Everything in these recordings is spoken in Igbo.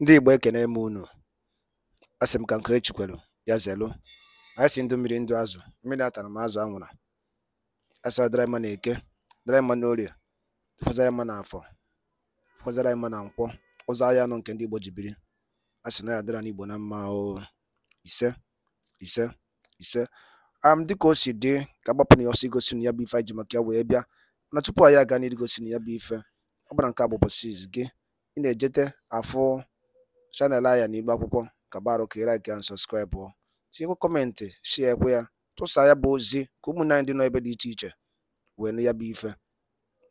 Ndị Igbo ekene m unu. Asị m ka nke echikwelu ya zelu. Anyị sị ndụ mmiri ndụ azụ, mmiri atara ma azụ anwụra. Asị ọ dịrị mma na eke, dịrị mma na orie, dịkwazara mma na afọ, dịkwazara mma na nkwọ. Ụzọ ahịa anọ nke ndị Igbo ji biri. Asị na ya dịrị ndị Igbo na mma o. Ise, ise, ise. Am dịka o si dị ka agbapụ na ya ọsọ igosi unu ya bụ ife anyị ji maka ya wee bịa. Mana tupu anyị aga n'iru igosi unu ya bụ ife, ọ bụrụ na nke a bụ ụbọchị izizi gị ị na-ejete afụ channel anyị a n'iru akwụkwọ ka barụ ka ị like ya subscribe o tinyekwa comment share kwa ya tụsa ya bụ ozi ka ụmụnne anyị ndị nọ ebe dị iche iche wee nụ ya bụ ife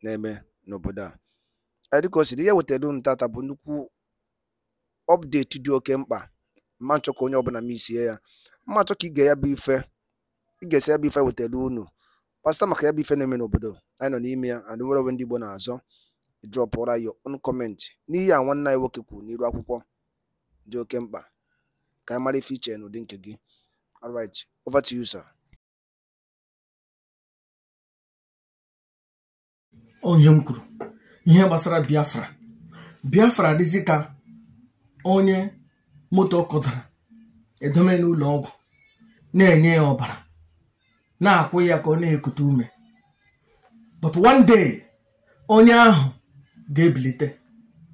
na-eme n'obodo a Ee, dịka o si dị ihe wetara unu tata bụ nnukwu update dị oke mkpa m ma-achọ ka onye ọbụla missie ya m na-achọ ka i gee ya bụ ife i gesịa ya bụ ife wetara unu gbasata maka ya bụ ife na-eme n'obodo anyị nọ n'ime ya and nnwere onwe ndị Igbo na-azọ drọpụra your own comment n'ihe a nwanne anyị nwoke kwuru n'iru akwụkwọ dị oke mkpa ka anyị mara ife i che n'ụdị nke gị alright over to you sir o nwe ihe m kwuru ihe gbasara biafra biafra dịzi ka onye moto kụdara edome n'ụlọ ọgwụ na-enye ya ọbara na-akwụ ya ka ọ na-ekute ume but one day onye ahụ ga-ebilite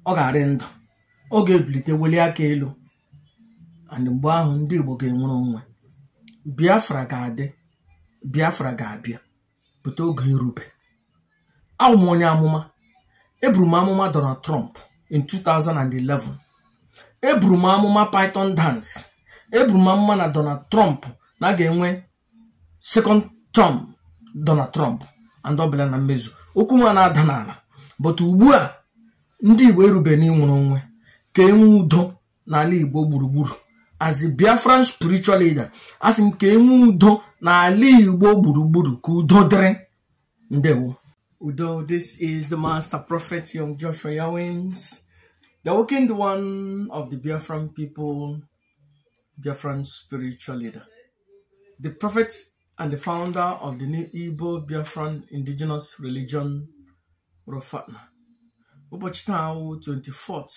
ọ ga-arị ndụ ọ ga-ebilite welie aka elu and mgbe ahụ ndị Igbo ga-enwere onwe Biafra ga-adị Biafra ga-abịa pụta oge erube awụ m onye amụma eburu m amụma Donald Trump in 2011 eburu m amụma Python dance eburu m amụma na Donald Trump na a ga-enwe second term Donald Trump and ọ bịara na mmezu okwu m ana-ada n'ala but ugbu a ndị Igbo erube n'inwere onwe ka enwe udo n'ala igbo gburugburu as a biafran spiritual leader asị m ka enwe udo n'ala igbo gburugburu ka udo dịrị ndewo udo this is the master prophet young joshua yawins the awakened one of the biafran people biafran spiritual leader the prophet and the founder of the new Igbo Biafran indigenous religion Rofana. Ụbọchị taa wụ 24th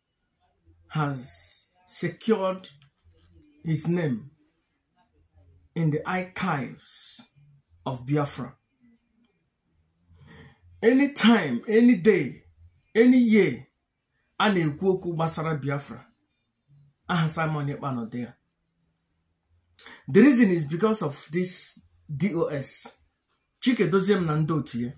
has secured his name in the archives of Biafra. Anytime, any day, any year, a na-ekwu okwu gbasara Biafra, aha Simon Ekpa nọ there. The reason is because of this DOS. Chika Edoziem na ndị otu ya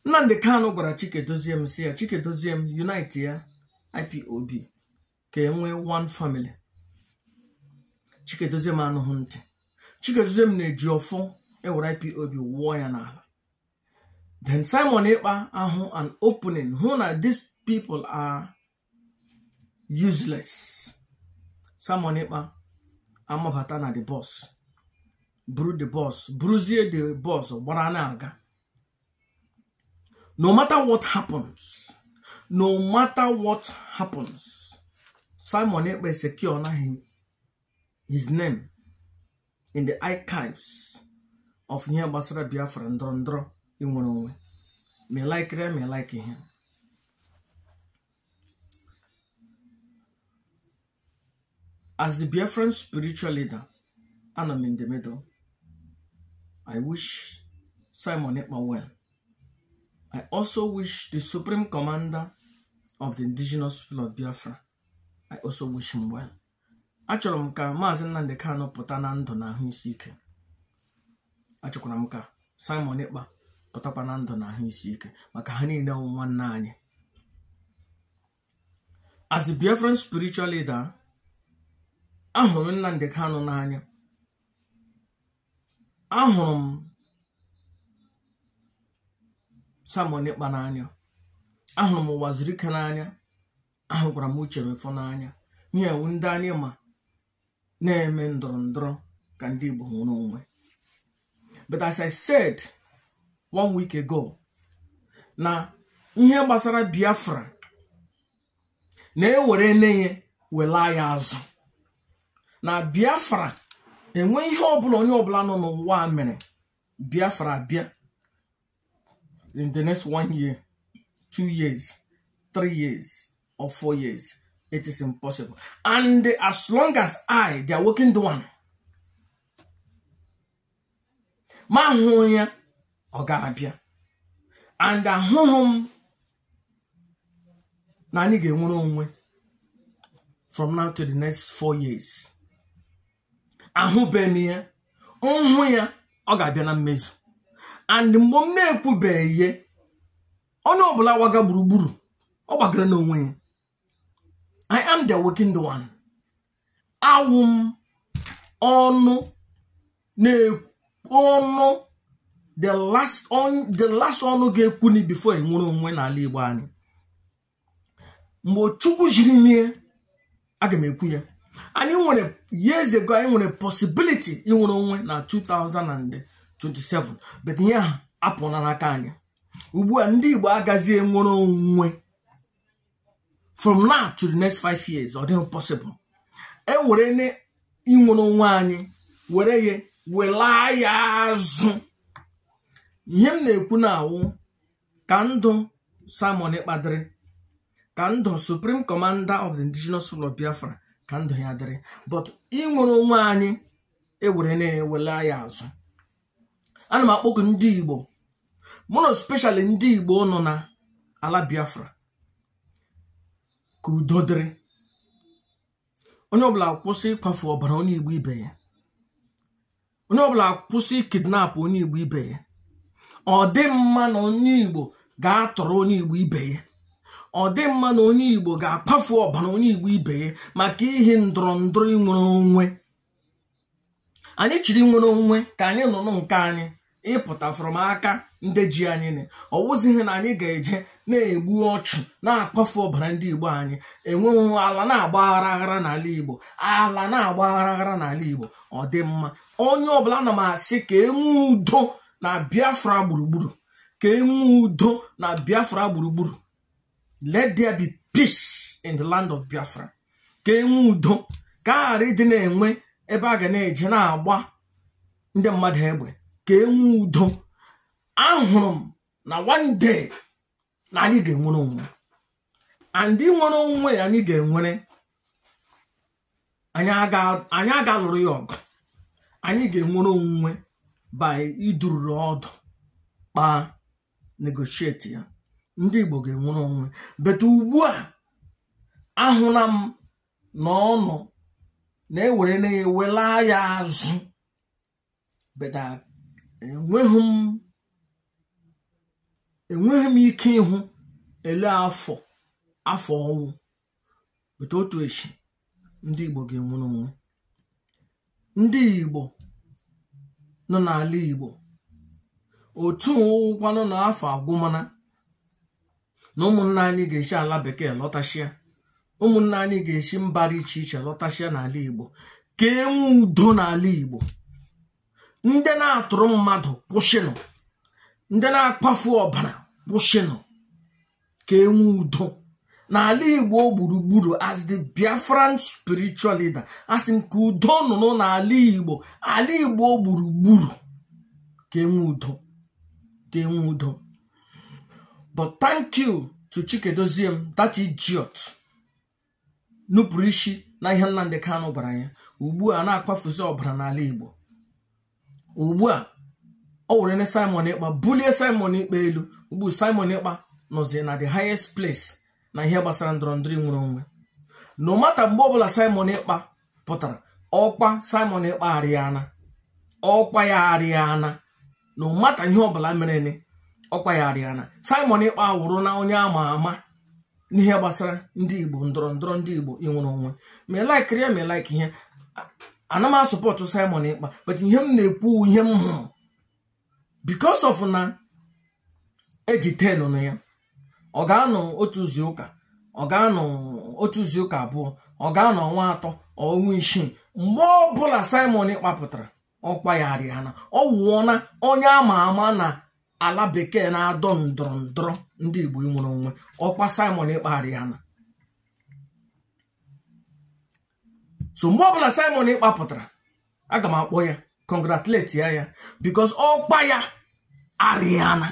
Nnamdi Kanu gwara Chika Edoziem sị ya Chika Edoziem unite ya ipob ka e nwee one family Chika Edoziem anụghị ntị Chika Edoziem na Ejiofor ewere ipob wụọ ya n'ala then Simon Ekpa ahụ an opening hụ na these people are useless Simon Ekpa amabata na the bus buru the bus buruzie the bus gbara na-aga no matter what happens no matter what happens Simon Ekpa securena hi his name in the archives of ihe gbasara biafra ndọrọ ndọrọ inwere onwe ma ị likeri ya ma ị likehị ya as the biafran spiritual leader anọ m in the middle i wish simon ekpa well i also wish the supreme commander of the indigenous people of biafra i also wish him well achọrọ m ka maazị Nnamdi Kanu pụta na ndụ na ahụ isi ike achọkwara m ka Simon Ekpa pụtakwa na ndụ na ahụ isi ike maka ha niile wụ nwanne anyị as a Biafran spiritual leader ahụrụ m Nnamdi Kanu n'anya ahụrụ m Simon Ekpa n'anya ahụrụ m Uwazuruike n'anya ahụkwara m Uche Mefor n'anya ihe wu ndị anyị ma na-eme ndọrọ ndọrọ ka ndị Igbo nwere onwe but as I said one week ago na ihe gbasara Biafra na e werene ya welaa ya azụ na Biafra enwe ihe ọbụla onye ọbụla nọ n'ụwa mere Biafra bịa in the next one year two years three years or four years it is impossible and as long as i the awakened one ma hụ ya ọ ga-abịa and ahụhụ m na anyị ga-enwere onwe from now to the next four years ahụbeghị m ya m hụ ya ọ ga-abịa na mmezu and mgbe m na-ekwubeghị ihe onye ọbụla gbaga gburugburu ọ gbagara n'onwe ya I am the awakened one awụ m ọnụ na-ekwu ọnụ the last ọnụ ga-ekwuni before enwere onwe n'ala Igbo anyị mgbe chukwu jiri nye aga m ekwu ya anyị nwere years ago anyị nwere possibility inwere onwe na 2027 but ihe ahụ apụla n'aka anyị ugbu a ndị igbo agazi enwere onwe from now to the next five years ọ dịghị possible e werene inwere onwe anyị were ya welaa ya azụ ihe m na-ekwu na-awụ ka ndụ Simon Ekpa dịrị ka ndụ Supreme Commander of the Indigenous People of Biafra ka ndụ ya dịrị but inwere onwe anyị ewere na-ewela ya azụ ana m akpọku ndị Igbo more especially ndị Igbo nọ na ala Biafra ka udo dịrị onye ọbụla kwụsị ịkwafu ọbara onye Igbo ibe ya onye ọbụla kwụsị kidnap onye igbo ibe ya ọ dị mma na onye igbo ga-atọrọ onye igbo ibe ya ọ dị mma na onye igbo ga-akwafu ọbara onye igbo ibe ya maka ihe ndọrọ ndọrọ inwere onwe anyị chọrọ inwere onwe ka anyị nọ nke anyị ịpụta from aka ndị ji anyị na ọ wụzighị na anyị ga-eje na-egbu ọchụ na-akwafu ọbara ndị igbo anyị enweghị ala na-agba aghara aghara n'ala igbo ala na-agba aghara aghara n'ala igbo ọ dị mma onye ọbụla ana m asị ka enwe udo na biafra gburugburu ka enwe udo na biafra gburugburu let there be peace in the land of biafra ka enwe udo ka a ghara ịdị na-enwe ebe a ga na-eje na-agba ndị mmadụ egbe ka enwe udo ahụrụ m na one day na anyị ga-enwere onwe and inwere onwe anyị ga-enwere anyị aga alụrụ ya ọgụ anyị ga-enwere onwe by idururu ọdụ kpaa negotiate ya ndị Igbo ga-enwere onwe but ugbu a ahụla m na ọ nọ na-ewere na-ewela ya azụ but enweghị m enweghị m ike ịhụ ele afọ afọ ọ wụ but otu echi ndị Igbo ga-enwere onwe ndị Igbo nọ n'ala Igbo otu ọ wụkwanụ na afọ agwụmana na ụmụnna anyị ga-esi ala bekee lọtasịa ụmụnna anyị ga-esi mba dị iche iche lọtasịa n'ala igbo ka enwe udo n'ala igbo ndị na-atọrọ mmadụ kwụsịnụ ndị na-akwafu ọbara kwụsịnụ ka enwe udo n'ala igbo gburugburu as the biafran spiritual leader asị m ka udo nọnụ n'ala igbo ala igbo gburugburu ka enwe udo ka enwe udo but thank you to Chika Edoziem that idiot nupụrụ isi na ihe Nnamdi Kanu gwara ya ugbu a na-akwafuzi ọbara n'ala Igbo ugbu a ọ were ne Simon Ekpa bulie Simon Ekpa elu ugbu Simon Ekpa nọzi na the highest place na ihe gbasara ndọrọ ndọrọ inwere onwe no matter mgbe ọbụla Simon Ekpa pụtara ọkwa simon ekpa arịana ọkwa ya arịana no matter ihe ọbụla mereni ọkwa ya arịana simon ekpa awụrụna onye ama ama n'ihe gbasara ndị igbo ndọrọ ndọrọ ndị igbo inwere onwe ma ị likeiri ya ma ị like ihe ana m asupport simon ekpa but ihe m na-ekwu ihe m hụrụ because of na ejitenuna ya ọ ga-anọ otu izu ụka ọ ga-anọ otu izu ụka abụọ ọ ga-anọ ọnwa atọ ọnwa isii mgbe ọbụla simon ekpa pụtara ọkwa ya arịana ọ wụọna onye ama ama na ala bekee na-adọ ndọrọ ndọrọ ndị igbo inwere onwe ọkwa simon ekpa arịana so mgbe ọbụla Simon Ekpa pụtara aga m akpọ ya congratulate ya ya because ọkwa ya arịana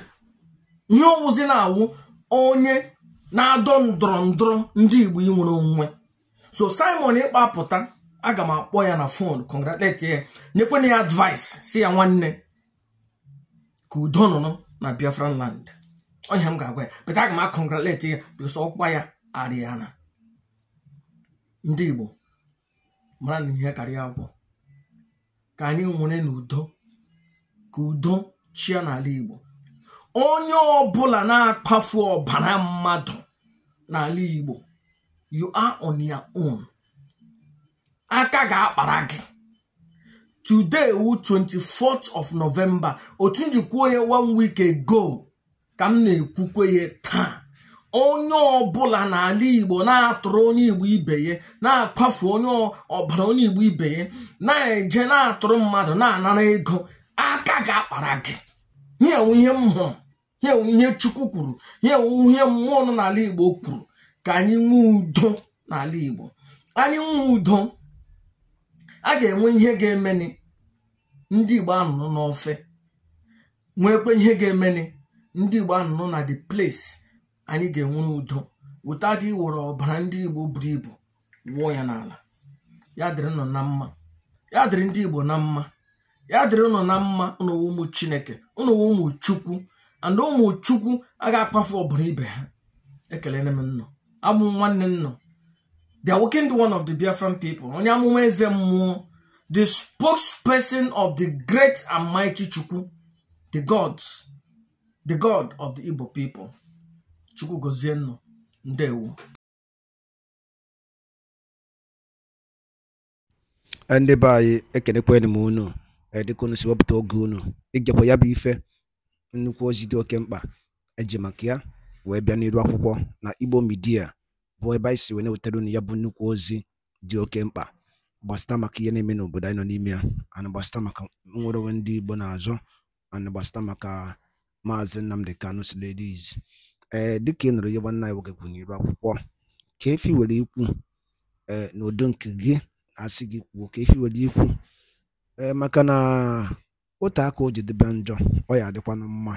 ihe ọ wụzi na-awụ onye na-adọ ndọrọ ndọrọ ndị Igbo inwere onwe so Simon Ekpa pụta aga m akpọ ya na phone congratulate ya nyekwana ya advice sị ya nwanne ka udo nọrọ na Biafra land ọ ihe m ga-agwa ya but aga m acongratulate ya because ọkwa ya arịana ndị Igbo mara na ihe karịa agwọ ka anyị nwerenụ udo ka udo chịa n'ala Igbo onye ọbụla na-akwafu ọbara mmadụ n'ala Igbo you are on your own aka ga-akpara gị today wụ 24th of November otu m ji kwuo ya one week ago ka m na-ekwukwe ya taa onye ọbụla n'ala igbo na-atọrọ onye igbo ibe ya na-akwafu onye ọbara onye igbo ibe ya na-eje na-atọrọ mmadụ na-anara ego aka ga-akpara gị ihe a wụ ihe m hụrụ ihe a wụ ihe chukwu kwuru ihe a wụ ihe mmụọ nọ n'ala igbo kwuru ka anyị nwee udo n'ala igbo anyị nwee udo a ga-enwe ihe ga-emeni ndị igbo anọrọ n'ofe nwekwe ihe ga-emeni ndị igbo anọrọ na the place anyị ga-enwe udo without iwere ọbara ndị igbo buru ibu wụọ ya n'ala ya dịrị ụnụ na mma ya dịrị ndị igbo na mma ya dịrị ụnụ na mma ụnụ wụ ụmụ chineke ụnụ wụ ụmụ chukwu and ụmụ chukwu aga akwafu ọbara ibe ha ekelene m ụnụ abụ m nwanne ụnụ the awakened one of the Biafran people onye amụma eze mmụọ the spokesperson of the great and mighty Chukwu the gods the god of the Igbo people Chukwu gozie ụnụ ndewo Eh, ndị be anyị ekenekwanụ m unu eh, dịka unu si wepụta oge unu ịgekwa ya bụ ife nnukwu ozi dị oke mkpa e ji maka ya wee bịa n'iru akwụkwọ na Igbo Media bụ ebe anyị si wee na-ewetara unu ya bụ nnukwu ozi dị oke mkpa gbasịta maka ihe na-eme n'obodo anyị nọ n'ime ya ana gbasịta maka nnwere onwe ndị Igbo na-azọ and gbasịta maka Maazị Nnamdi Kanu's release ee dịka ị nụrụ ihe nwanne anyị nwoke kwuru n'iru akwụkwọ kee ife i nwere ikwu ee n'ụdị nke gị a sị gị kwuo kee ife i nwere ikwu ee maka na o tee aka o ji dịbe njọ ọ ya-adịkwanụ mma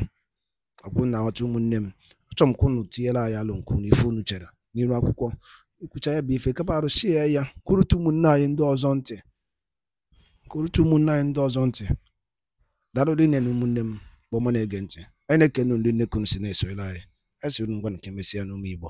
ọ kwa unu na-aghọta ụmụnne m achọrọ m ka unu tinyere anyị alo nke unu ife unu chere n'iru akwụkwọ i kwucha ya bụ ife kapa arụsie ya ka o rute ụmụnne anyị ndị ọzọ ntị ka o rute ụmụnne anyị ndị ọzọ ntị daalụ rinne na ụmụnne m igbo ọma na-ege ntị anyị na-ekene unu rinne ka unu si na-esoyere anyị anyị sịrị ngwanụ ka e mesịanụ ụmụ igbo